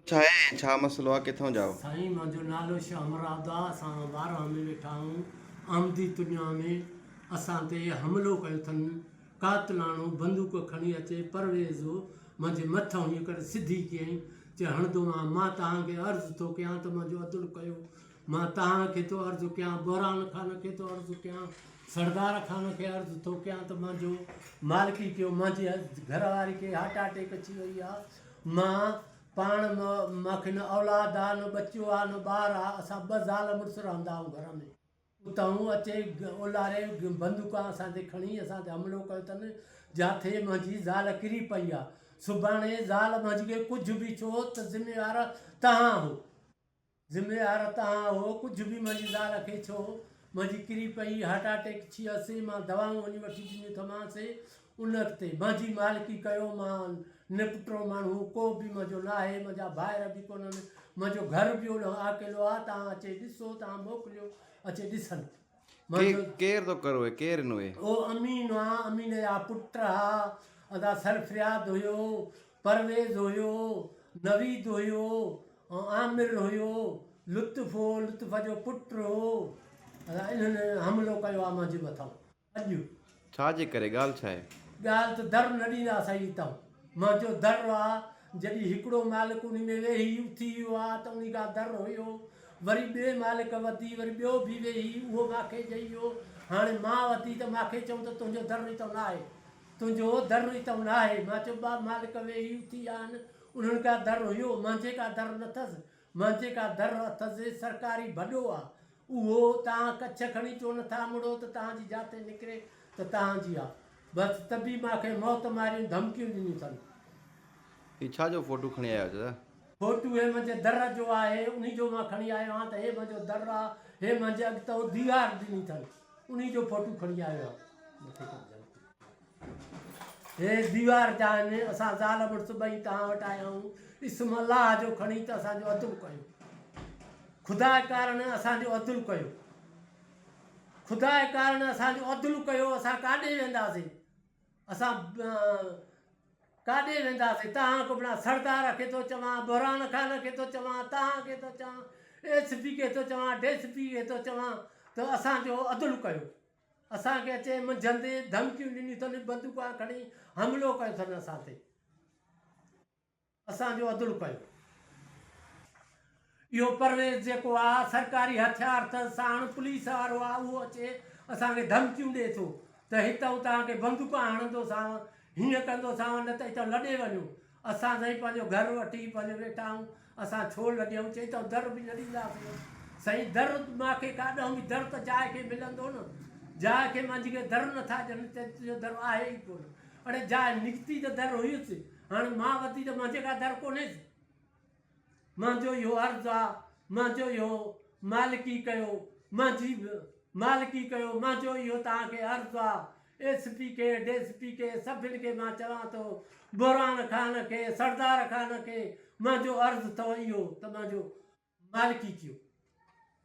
ڇا اهي ۽ ڇا مسئلو آ ڪٿئون جاء. سائين منهنجو نالو شاھ مراد آ اسان ٻارهان ۾ ويٺا آهون احمدي تنيا ۾ اسان تي حملو ڪيو ٿن قاتلاڻو بندوق کڻي اچي پرويز منهنجي مٿ هنئين ڪري سڌي ڪيائين چي هڻندو مان مان توهان کي عرض ٿو ڪيان ته منهنجو عدل ڪيو مان توهان کي ٿو عرض ڪيان بحران خان کي ٿو عرض ڪيان سردار خان کي عرض ٿو ڪيان ته منهنجو مالڪي ڪيو منهنجي گهرواري کي هارٽ اٽيڪ اچي وئي آ مان پاڻ ماکي نه اولاد آ نه ٻچو آ نه ٻار آ اسان ٻه زال مڙس رهندا آهيون گهر ۾ اتانهون اچي اولاري بندوقان اسان تي کڻي اسان تي حملو ڪيو تن جاٿي منهنجي زال ڪري پئي آ سڀاڻي زال منهنجي کي ڪجهه به ٿيو ته ذميوار تهان آهو. ذميوار تهان هو ڪجهه به منهنجي زال کي ڇو منهنجي ڪري پئي هارٽ اٽيڪ ٿيس مان دوائون وڃي وٺي ڏنيون ٿمانس ان تي منهنجي مالڪي ڪيو مان نپٽرو ماڻهو ڪو به منهنجو ناهي منهنجا ڀائر به ڪونهن منهنجو گهر به اوڏانهن آڪيلو آ تهان اچي ڏسو تهان موڪليو اچي ڏسن ڪير ٿو ڪروي ڪير نوي. او امين آ امين جا پٽ ها ادا سرفرياد هيو پرويز هيو نويد هيو ۽ عامر هيو لطف هو لطف جو پٽ هو ادا انهن حملو ڪيو آ مانجي مٿان اڄ ڇا جي ڪري ڳالهه ڇا آهي؟ ڳالهه ته در نه ڏيندا سائين تون منهنجو در آ جڏهن هڪڙو مالڪ انهي ۾ ويهي اٿي ويو آ ته انهي کان در هيو وري ٻئي مالڪ وڌي وري ٻيو ڀي ويهي اهو ماکي جئي ويو هاڻي مان وڌي ته ماکي چئون ته تنهنجو در ئي تون آهي تنهنجو در ئي تون آهي مان چيو ٻئا مالڪ ويهي اٿي ويا آهن انهن کان در هيو منهنجي کان در نه ٿس مان جيڪا در اٿس سي سرڪاري ڀڏو آ اهو تهان ڪڇ کڻي چو نه ٿا مڙو ته تهان جي جاتي نڪري ته تهان جي آ بس تبي مان کي موت ماريون ڌمڪيون ڏنيون ٿن. هي ڇا جو فوٽو کڻي آيا آهيو چچا. فوٽو هي منهنجي در جو آهي انهي جو مان کڻي آيو آهيان ته هي منهنجو در آ هي منهنجي اڳتئون ديوار ڏني ٿن انهي جو فوٽو کڻي آيو آهيان. هي ديوار جا آهن، اسان زال مڙس ٻئي توهان وٽ آيا آهيون، اسم الله جو کڻي ته اسان جو عدل ڪيو، خدا ڪارڻ اسان جو عدل ڪيو، خدا ڪارڻ اسان جو عدل ڪيو، اسان ڪاڏي وينداسين، اسان ڪاڏي وينداسين، توهان کي بنا سردار کي ٿو چوان، بحران خان کي ٿو چوان، توهان کي ٿو چوان، ايس پي کي ٿو چوان، ڊي سي پي کي ٿو چوان ته اسان جو عدل ڪيو، اسان کي اچي منجهندي ڌمڪيون ڏنيون اٿن، بندوقان کڻي حملو ڪيو اٿن اسان تي، اسان جو عدل ڪيو. اهو پرويز جيڪو آ سرڪاري هٿيار اٿس ساڻ پوليس وارو آ اهو اچي اسان کي ڌمڪيون ڏي ٿو ته هتئون توهان کي بندوقان هڻندوسانو هيئن ڪندوسانو نه ته هتئون لڏي وڃو اسان سائين پنهنجو گهر وٺي پنهنجو ويٺا آهيون، اسان ڇو لڏيون؟ چئي ته در به نه ڏينداسين. سائين در مان کي ڪا ڏهون به در ته جاء کي ملندو نه. جاء کي مانجهي کي در نه ٿا ڏين، چئي ته تنهنجو در آهي ئي ڪونه. اڙي جاء نڪتي ته در هيس، هاڻي مان وتي ته مانجهي ڪا در ڪونهيس. منهنجو اهو عرض آ منهنجو اهو مالڪي ڪيو منهنجي مالڪي ڪيو منهنجو اهو توهان کي عرض آ ايس پي کي ڊي سي پي کي سڀن کي مان چوان ٿو بحران خان کي سردار خان کي منهنجو عرض اٿو اهو ته منهنجو مالڪي ڪيو